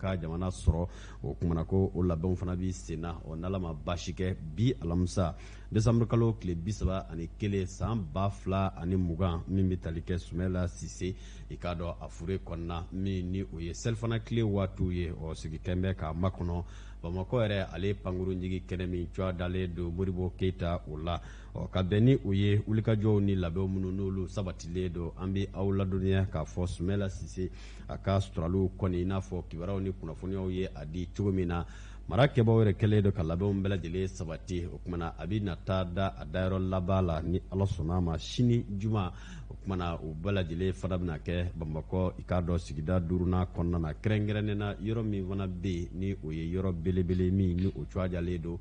ka jamana sɔrɔ o kumana ko o labɛnw fana bɛ sen na ɔ n'ala ma baasi kɛ bi alamisa desanburukalo tile bi saba ani kelen san ba fila ani mugan min bɛ tali kɛ sumɛla sise i k'a dɔn a fure kɔnɔna min ni o ye selifana tile waatiw ye ɔ sigi kɛlen bɛ k'a makɔnɔ bamakɔ yɛrɛ ale pankuru jigi kɛnɛ min tɔgɔ dalen don modibo keyita o la ɔ ka bɛn ni o ye wulikajɔw ni labɛnw minnu n'olu sabatilen don an bɛ aw ladɔnniya k'a fɔ sumɛla sise a ka suturaliw kɔni i n'a fɔ kibaruyaw ni kunnafoniyaw ye a di cogo min na mara kɛbaaw yɛrɛ kɛlen don ka labɛnw bɛɛ lajɛlen sabati o kumana a bɛ na taa da a dayɔrɔ laban la ni ala sɔnna a ma sini juma o kumana o bɛɛ lajɛlen fana bɛna kɛ bamakɔ i k'a dɔn sigida duurunan kɔnɔna na kɛrɛnkɛrɛnnen na yɔrɔ min fana bɛ yen ni o ye yɔrɔ belebele min ni o tɔgɔ dalen don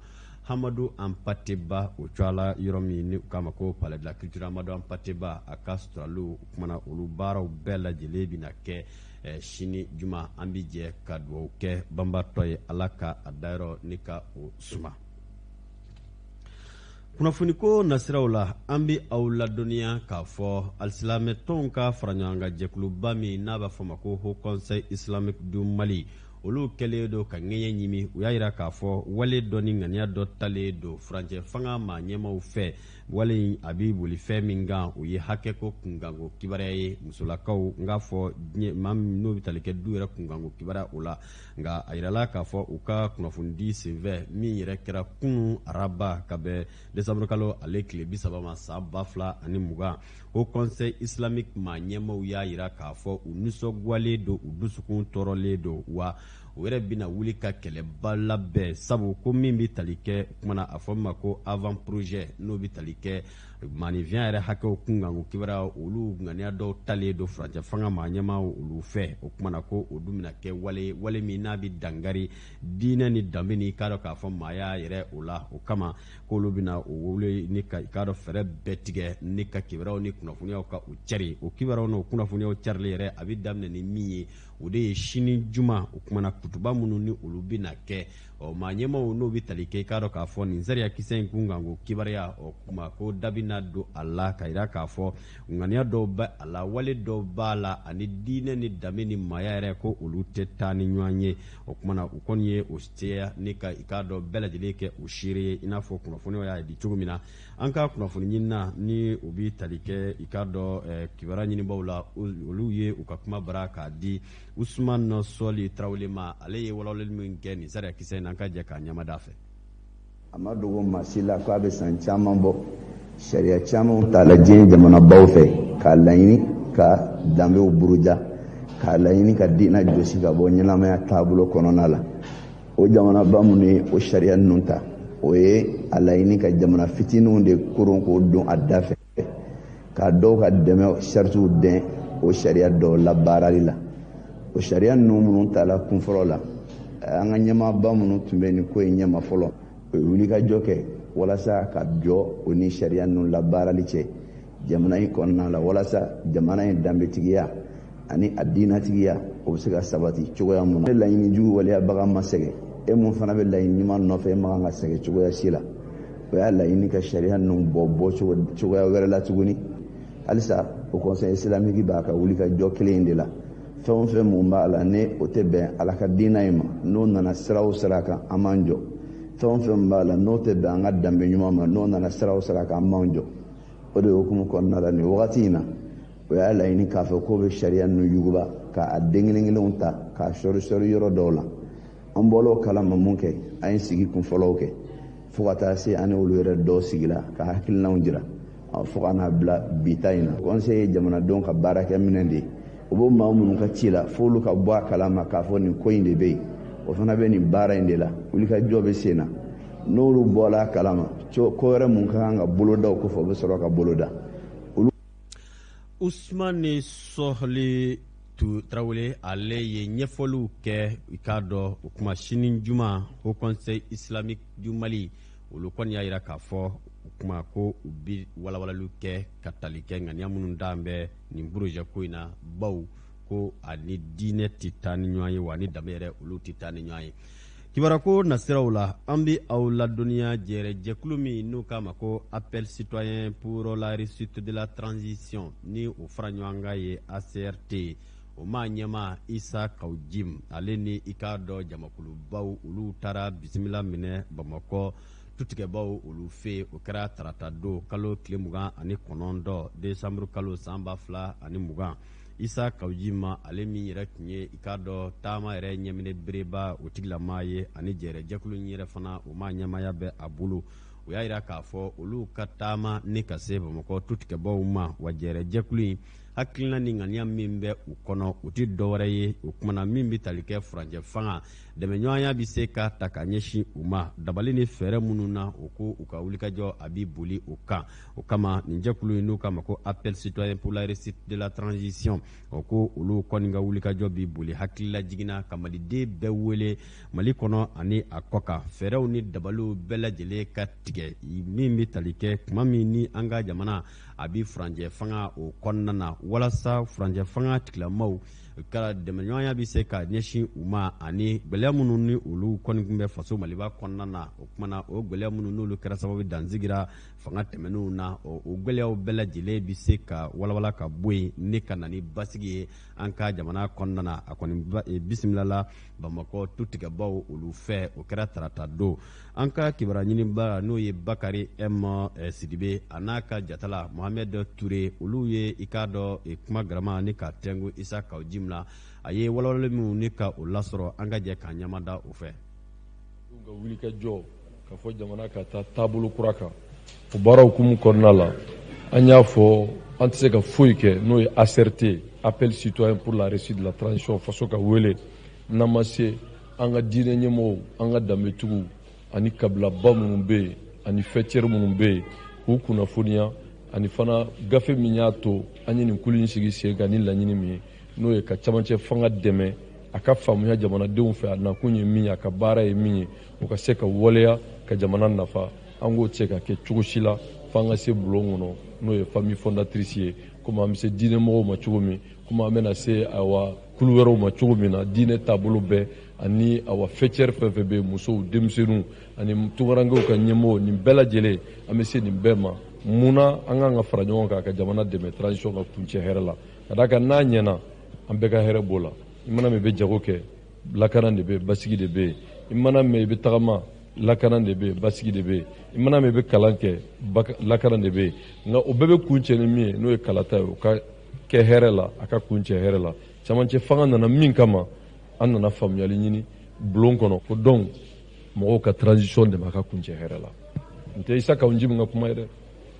hamadu anpate ba o tɔgɔ la yɔrɔ min ni u k'a ma ko palais de la culture amadu anpate ba a ka suturaliw kumana olu baaraw bɛɛ lajɛlen bɛna kɛ eh, sini juma an bi jɛ ka dugawu kɛ banbatɔ ye ala ka a dayɔrɔ ni ka o suma kunnafoniko nasiraw la an bi aw ladɔnniya k'a fɔ alisilamɛtɔnw ka faraɲɔgɔnkan jɛkuluba min n'a b'a fɔ ma ko haut conseil islamique du mali olu kɛlen don ka ŋɛɲɛ ɲimi u y'a jira k'a fɔ wale dɔ ni ŋaniya dɔ talen don furancɛ fanga maa ɲɛmaw fɛ wale in a bɛ boli fɛn min kan o ye hakɛko kunkanko kibaruya ye musolakaw n k'a fɔ maa min n'o bɛ tali kɛ du yɛrɛ kunkanko kibaruya o la nka a jirala k'a fɔ u ka kunnafonidi senfɛ min yɛrɛ kɛra kunun araba ka bɛn desanburukalo ale tile bi saba ma san ba fila ani mugan haut conseil islamique maa ɲɛmaaw y'a jira k'a fɔ u nisɔngoyalen don u dusukun tɔɔrɔlen don wa u yɛrɛ bɛna wuli ka kɛlɛba labɛn sabu ko min bɛ tali kɛ kumana a fɔ min ma ko avant projet n'o bɛ tali kɛ maaninfinya yɛrɛ hakɛw kunkanko kibaruya olu ŋaniya dɔw talen don furancɛ fanga maa ɲɛmaw olu fɛ o kumana ko o dun bɛna kɛ wale wale min n'a bɛ dankari diinɛ ni danbe ni k'a dɔn k'a fɔ maaya yɛrɛ o la o kama k'olu bɛna o wele ni ka i k'a dɔn fɛɛrɛ bɛɛ tigɛ ni ka kibaruyaw ni kunnafoniyaw ka u cari o kibaruyaw n'o kunnafoniyaw carili yɛrɛ a bɛ daminɛ ni min ye o de ye sini juma o kumana kutuba minnu ni olu bɛna kɛ ɔ maa ɲɛmaaw n'o bɛ tali kɛ i k'a dɔn k'a fɔ nin sariyakisɛ in kunkanko kibaruya ɔ kuma ko da bɛna don a la ka jira k'a fɔ ŋaniya dɔw bɛ a la wale dɔw b'a la ani diinɛ ni danbe ni maaya yɛrɛ ko olu tɛ taa ni ɲɔgɔn ye o kumana u kɔni ye o jɛya ni ka i k'a dɔn bɛɛ lajɛlen kɛ o seere ye i n'a fɔ kunnafoniw y'a di cogo min na an ka kunnafoni ɲinina ni u bɛ tali kɛ i k'a dɔn eh, kibaruya ɲinibaaw la olu ye u ka kuma bara k'a di usman sɔli tarawele ma ale ye walawalali min kɛ nin sariya kisɛ in na an ka jɛ k'a lamɛn a da fɛ a ma dogo maa si la k'a bɛ san caman bɔ sariya camanw tala diɲɛ jamanabaw fɛ k'a laɲini ka danbew buruja k'a laɲini ka diinɛ jɔsi ka bɔ ɲɛnamaya taabolo kɔnɔna la o jamanaba minnu ye o sariya ninnu ta o ye a laɲini ka jamana fitininw de koron k'o don a da fɛ ka dɔw ka dɛmɛ saritiw dɛn o sariya dɔw labaarali la o sariya ninnu minnu tala kun fɔlɔ la an ka ɲɛmaaba minnu tun bɛ nin ko in ɲɛma fɔlɔ o ye wulikajɔ kɛ walasa ka jɔ o ni sariya ninnu labaarali cɛ jamana in kɔnɔna la walasa jamana in danbetigiya ani a diinatigiya o bɛ se ka sabati cogoya mun na laɲini jugu waleyabaga ma sɛgɛn e mun fana bɛ laɲini ɲuman nɔfɛ e man kan ka sɛgɛn cogoya si la o y'a laɲini ka sariya ninnu bɔ bɔ cogoya wɛrɛ la tuguni halisa haut conseil islamique b'a ka wulikajɔ kelen in de la fɛn o fɛn mun b'a la ni o tɛ bɛn ala ka diina in ma n'o nana sira o sira kan an b'an jɔ fɛn o fɛn b'a la n'o tɛ bɛn an ka danbe ɲuman ma n'o nana sira o sira kan an b'an jɔ o de hukumu kɔnɔna la nin wagati in na o y'a laɲini k'a fɔ k'o bɛ sariya ninnu yuguba k'a den kelen kelenw ta k'a sɔri sɔri yɔrɔ dɔw la an bɔl'o kalama mun kɛ an ye sigi kun fɔlɔw kɛ fo ka taa se an ni olu yɛrɛ dɔw sigila ka hakilinaw jira fo ka n'a bila bi ta in na conseil ye jamanadenw ka baarakɛminɛn de ye u bɛ maa minnu ka ci la f'olu ka bɔ a kalama k'a fɔ nin ko in de bɛ yen o fana bɛ nin baara in de la wulikajɔ bɛ sen na n'olu bɔla a kalama ko wɛrɛ mun ka kan ka boloda o kɔfɛ u bɛ sɔrɔ ka boloda usumani sɔli tarawele ale ye ɲɛfɔliw kɛ i k'a dɔn o kuma sini juma haut conseil islamique du mali olu kɔni y'a jira k'a fɔ o kuma ko u bi walawalaliw kɛ ka tali kɛ ŋaniya minnu dan bɛ nin projet ko in na baw ko ani diinɛ tɛ taa ni ɲɔgɔn ye wa ani danbe yɛrɛ olu tɛ taa ni ɲɔgɔn ye kibaruko nasiraw la an bɛ aw ladɔnniya jɛrɛjɛkulu min n'u k'a ma ko appel citoyen pour la réussite de la transition ni o fara ɲɔgɔn kan ye acrt o maa ɲɛma isa kawu jim ale ni i k'a dɔn jamakulubaw olu taara bisimila minɛ bamakɔ tutigɛbaw olu fɛ o kɛra tarata don kalo tile mugan ani kɔnɔntɔ desanburu kalo san ba fila ani mugan isa kawu jim ale min yɛrɛ tun ye i k'a dɔn taama yɛrɛ ɲɛminɛ bereba o tigilama ye ani jɛrɛjɛkulu yɛrɛ fana o maa ɲɛmaya bɛ a bolo o y'a jira k'a fɔ olu ka taama ni ka se bamakɔ tutigɛbaw ma wa jɛrɛjɛkulu in hakilina ni ŋaniya min bɛ u kɔnɔ u tɛ dɔwɛrɛ ye o kuma na min bɛ tali kɛ furancɛ fanga dɛmɛɲɔgɔnya bɛ se ka ta ka ɲɛsin u ma dabali ni fɛɛrɛ minnu na o ko u ka wulikajɔ a bɛ boli o kan o kama nin jɛkulu ye n'u k'a ma ko appel citoyen pour la réussite de la transition o ko olu kɔni ka wulikajɔ bi boli hakililajigin na ka maliden bɛɛ wele mali kɔnɔ ani a kɔkan fɛɛrɛw ni dabaliw bɛɛ lajɛlen ka tigɛ min bɛ tali kɛ tuma min ni an ka jamana a bɛ furancɛ fanga o kɔnɔna na walasa furancɛ fanga tigilamaw ka dɛmɛɲɔgɔnya bɛ se ka ɲɛsin u ma ani gɛlɛya minnu ni olu kɔni tun bɛ faso maliba kɔnɔna na o kumana o gɛlɛya minnu n'olu kɛra sababu dan sigira fanga tɛmɛnenw na o gɛlɛyaw bɛɛ lajɛlen bɛ se ka walawala ka bɔ yen ne ka na ni basigi ye an ka jamana kɔnɔna na a kɔni e, bisimilala bamakɔ tutigɛbaw olu fɛ o kɛra tarata don an ka kibaruya ɲininba n'o ye bakari m sidibe a n'a ka jatala mohamɛd ture olu ye i k'a dɔn e, kuma garama ni ka tɛngu isa kaw jim la a ye walawalali minnu ni ka o lasɔrɔ an ka jɛ k'an ɲamada o fɛ ka wuli ka jɔ k'a fɔ jamana ka taa taabolo kura kan o baara hukumu kɔnɔna la an y'a fɔ an tɛ se ka foyi kɛ n'o ye ACRT appel citoyen pour la réussite de la transition faso ka wele n'an ma se an ka diinɛ ɲɛmɔgɔw an ka danbetigiw ani kabilaba minnu bɛ yen ani faîtière minnu bɛ yen k'u kunnafoniya ani fana gafe min y'a to an ye nin kulu in sigi sen kan ni laɲini min ye n'o ye ka camancɛ fanga dɛmɛ a ka faamuya jamanadenw fɛ a nakun ye min ye a ka baara ye min ye o ka se ka waleya ka jamana nafa an k'o tɛ se ka kɛ cogo si la fo an ka se bulon kɔnɔ n'o ye famille fondatrice ye komi an bɛ se diinɛ mɔgɔw ma cogo min komi an bɛna se awa kulu wɛrɛw ma cogo min na diinɛ taabolo bɛɛ ani awa faîtière fɛn fɛn bɛ yen musow denmisɛnninw ani tunkarankew ka ɲɛmɔgɔ nin bɛɛ lajɛlen an bɛ se nin bɛɛ ma mun na an k'an ka fara ɲɔgɔn kan ka jamana dɛmɛ transition ka kuncɛ hɛrɛ la ka d'a kan n'a ɲɛna an bɛɛ ka hɛrɛ b'o la i mana mɛn i bɛ jago kɛ lakana de bɛ yen basigi de bɛ yen i mana mɛn i bɛ tagama lakana de bɛ yen basigi de bɛ yen i mana mɛn i bɛ kalan kɛ lakana de bɛ yen nka o bɛɛ bɛ kuncɛ ni min ye n'o ye kalata ye o ka kɛ hɛrɛ la a ka kuncɛ hɛrɛ la camancɛ fanga nana min kama an nana faamuyali ɲini bulon kɔnɔ ko donc mɔgɔw ka transition dɛmɛ a ka kuncɛ hɛrɛ la n tɛ isa kaw jim ka kuma ye dɛ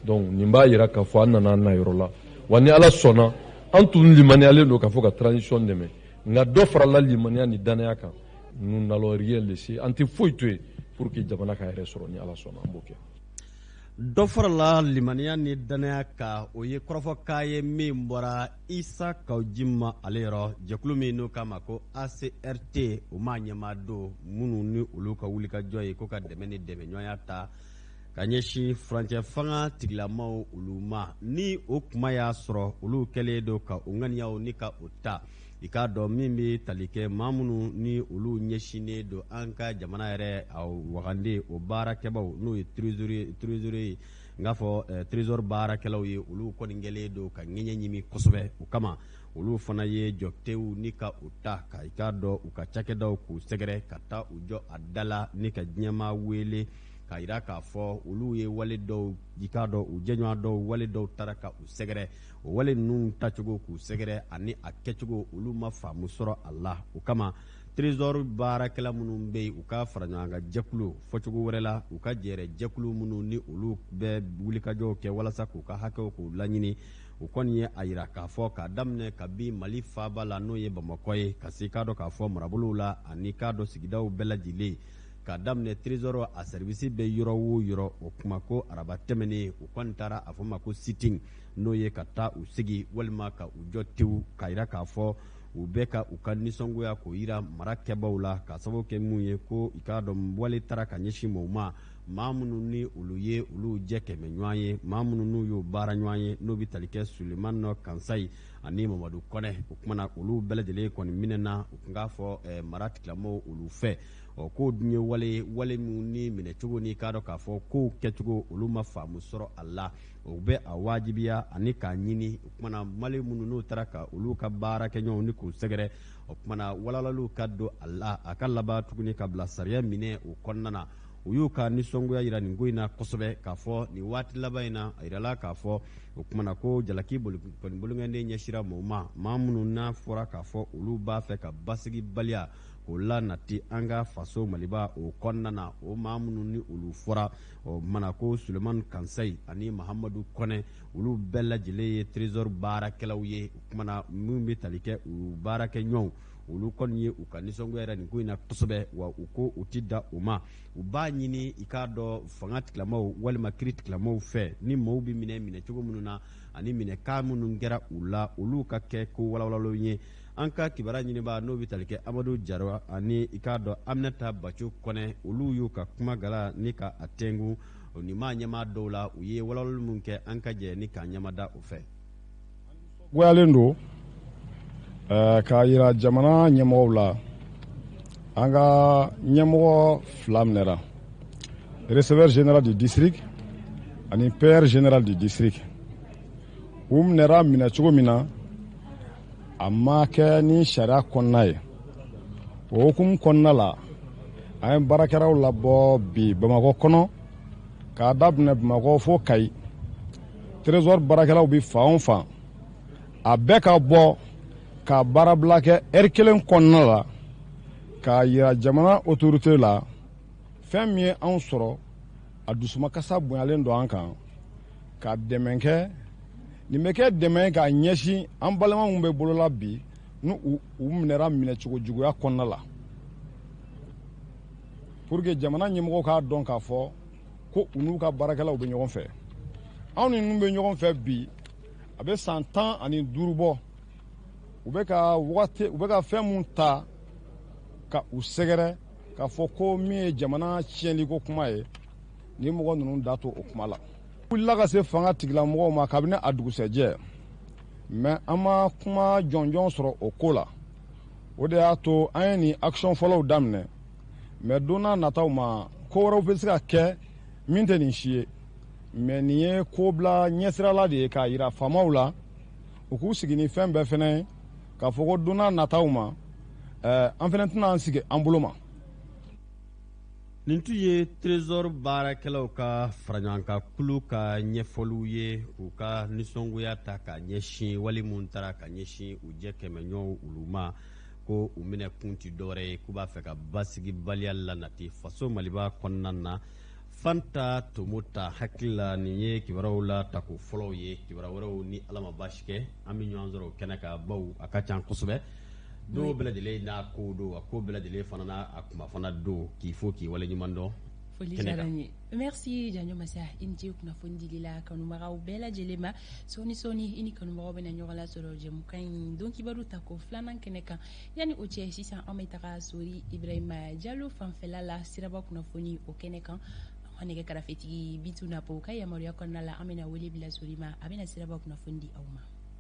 donc nin b'a yira k'a fɔ an nana an na yɔrɔ la wa ni ala sɔnna an tun limaniyalen don k'a fɔ ka transition dɛmɛ nka dɔ farala limaniya ni dannaya kan nous n'allons rien laisser an tɛ foyi to yen pour que jamana k'a yɛrɛ sɔrɔ ni ala sɔnna an b'o kɛ dɔ farala limaniya ni dannaya kan o ye kɔrɔfɔkan ye min bɔra isa kaw jim ma ale yɔrɔ jɛkulu min n'u k'a ma ko acrt o m'a ɲɛmaa don minnu ni olu ka wulikajɔ ye ko ka dɛmɛ ni dɛmɛɲɔgɔnya ta ka ɲɛsin furancɛ fanga tigilamaw olu ma ni o kuma y'a sɔrɔ olu kɛlen don ka u ŋaniyaw ni ka u ta i k'a dɔn min bɛ tali kɛ maa minnu ni olu ɲɛsinnen don an ka jamana yɛrɛ a wagande o baarakɛbaw n'o ye trésorier n k'a fɔ trésor baarakɛlaw ye olu kɔni kɛlen don ka ŋɛɲɛ ɲimi kosɛbɛ o kama olu fana ye jɔtew ni ka u ta ka i k'a dɔn u ka cakɛdaw k'u sɛgɛrɛ ka taa u jɔ a da la ni ka diɲɛmaa wele k'a yira k'a fɔ olu ye wale dɔw i k'a dɔn u jɛɲɔgɔn dɔw wale dɔw taara ka u sɛgɛrɛ o wale ninnu tacogo k'u sɛgɛrɛ ani a kɛcogo olu ma faamu sɔrɔ a la o kama trésor baarakɛla minnu bɛ yen u ka fara ɲɔgɔn kan jɛkulu fɔcogo wɛrɛ la u ka jɛrɛ jɛkulu minnu ni olu bɛ wulikajɔw kɛ walasa k'u ka hakɛw k'u laɲini u kɔni ye a yira k'a fɔ k'a daminɛ kabi mali faaba la n'o ye bamakɔ ye ka se k'a dɔn k'a fɔ marabolow la ani k'a dɔn sigidaw bɛɛ lajɛlen k'a daminɛ trésor a service bɛ yɔrɔ o yɔrɔ o kuma ko araba tɛmɛnen u kɔni taara a fɔ ma ko sitting n'o ye ka taa u sigi walima ka u jɔ tewu k'a yira k'a fɔ u bɛ ka u ka nisɔngoya k'o yira mara kɛbaw la k'a sababu kɛ mun ye ko i k'a dɔn wale taara ka ɲɛsin mɔgɔw ma maa minnu ni olu ye olu jɛ kɛmɛ ɲɔgɔn ye maa minnu n'u y'o baara ɲɔgɔn ye n'o bɛ tali kɛ sulemani kansayi ani mamadu kɔnɛ o kumana olu bɛɛ lajɛlen kɔni minɛna u tun k'a fɔ eh, mara tigilamaw olu fɛ ɔ k'o dun ye wale ye wale minnu ni minɛcogo n'i k'a dɔn k'a fɔ kow kɛcogo olu ma faamu sɔrɔ a la u bɛ a wajibiya ani k'a ɲini o kumana wale minnu n'u taara ka olu ka baarakɛ ɲɔgɔnw ni k'u sɛgɛrɛ o kumana walawalaliw ka don a la a ka laban tuguni ka bila sariya minɛ o kɔnɔna na u y'u ka nisɔngoya yira nin ko in na kosɛbɛ k'a fɔ nin waati laban in na a yirala k'a fɔ o kumana ko jalaki o kɔni bolokɔninden ɲɛsira mɔgɔw ma maa minnu n'a fɔra k'a fɔ olu b'a fɛ ka basigibaliya k'o lanati an ka faso maliba o kɔnɔna na o maa minnu ni olu fɔra o kumana ko sulemani kansayi ani mahamadu kɔnɛ olu bɛɛ lajɛlen ye trésor baarakɛlaw ye o kumana minnu bɛ tali kɛ u baarakɛ ɲɔgɔnw olu kɔni ye u ka nisɔngoya yira nin ko in na kosɛbɛ wa u ko u tɛ dan o ma u b'a ɲini i k'a dɔn fanga tigilamaw walima kiiri tigilamaw fɛ ni mɔgɔw bɛ minɛ minɛ cogo minnu na ani minɛ kan minnu kɛra u la olu ka kɛ ko walawalalen ye an ka kibaru ɲinibaa n'o bɛ tali kɛ amadu jara ani i k'a dɔn aminata baco kɔnɛ olu y'u ka kuma gala ni ka a tɛngu nin maa ɲɛmaa dɔw la u ye walawalali min kɛ an ka jɛ ni k'an ɲɛmada o fɛ goyalen don k'a yira jamana ɲɛmɔgɔw la an ka ɲɛmɔgɔ fila minɛra receveur général du district ani payeur général du district u minɛra minɛ cogo min na a ma kɛ ni sariya kɔnɔna ye o hukumu kɔnɔna la an ye baarakɛlaw labɔ bi bamakɔ kɔnɔ k'a daminɛ bamakɔ fo kayi trésor baarakɛlaw bɛ fan o fan a bɛɛ ka bɔ ka baarabila kɛ heure kelen kɔnɔna la k'a yira jamana otorite la fɛn min ye anw sɔrɔ a dusumakasa bonyalen don an kan ka dɛmɛ kɛ nin bɛ kɛ dɛmɛ k'a ɲɛsin an balima minnu bɛ bolola bi ni u minɛra minɛcogo juguya kɔnɔna la pour que jamana ɲɛmɔgɔw k'a dɔn k'a fɔ ko u n'u ka baarakɛlaw bɛ ɲɔgɔn fɛ anw ni ninnu bɛ ɲɔgɔn fɛ bi a bɛ san tan ani duuru bɔ u bɛ ka wagati u bɛ ka fɛn mun ta ka u sɛgɛrɛ k'a fɔ ko min ye jamana tiɲɛliko kuma ye ni mɔgɔ ninnu da to o kuma la wulila ka se fanga tigilamɔgɔw ma kabini a dugusɛjɛ mais an ma kuma jɔnjɔn sɔrɔ o ko la o de y'a to an ye nin action fɔlɔw daminɛ mais don n'a nataw ma ko wɛrɛw bɛ se ka kɛ min tɛ nin si ye mais nin ye ko bila ɲɛsirala de ye k'a yira faamaw la u k'u sigi ni fɛn bɛɛ fɛnɛ ye k'a fɔ ko don n'a nataw ma an fɛnɛ tɛna an sigi an bolo ma nin tun ye trésor baarakɛlaw ka faraɲɔgɔnkan kulu ka ɲɛfɔliw ye k'u ka nisɔngoya ta ka ɲɛsin wale minnu tara ka ɲɛsin u jɛ kɛmɛɲɔgɔn olu ma ko u minɛ kun tɛ dɔwɛrɛ ye k'u b'a fɛ ka basigibaliya lanati faso maliba kɔnɔna na fanta tomota hakili la nin ye kibaruyaw la tako fɔlɔw ye kibaruya wɛrɛw ni ala ma baasi kɛ an bɛ ɲɔgɔn sɔrɔ o kɛnɛ kan baw a ka ca kosɛbɛ Don bɛɛ lajɛlen n'a ko don a ko bɛɛ lajɛlen fana n'a kuma fana don k'i fo k'i waleɲuman dɔn foli merci janjo masa i ni ce kunnafoni dili la kanubagaw bɛɛ lajɛlen ma sɔɔni sɔɔni i ni kanubagaw bɛna ɲɔgɔn lasɔrɔ jɛmukan in don kibaru tako filanan kɛnɛ kan yanni o cɛ sisan an bɛ taga sori ibrahima jalo fanfɛla la siraba kunnafoni o kɛnɛ kan an nɛgɛ karafetigi bitu napo ka yamaruya kɔnɔna la an bɛna wele bila sori ma a bɛna siraba kunnafoni di aw ma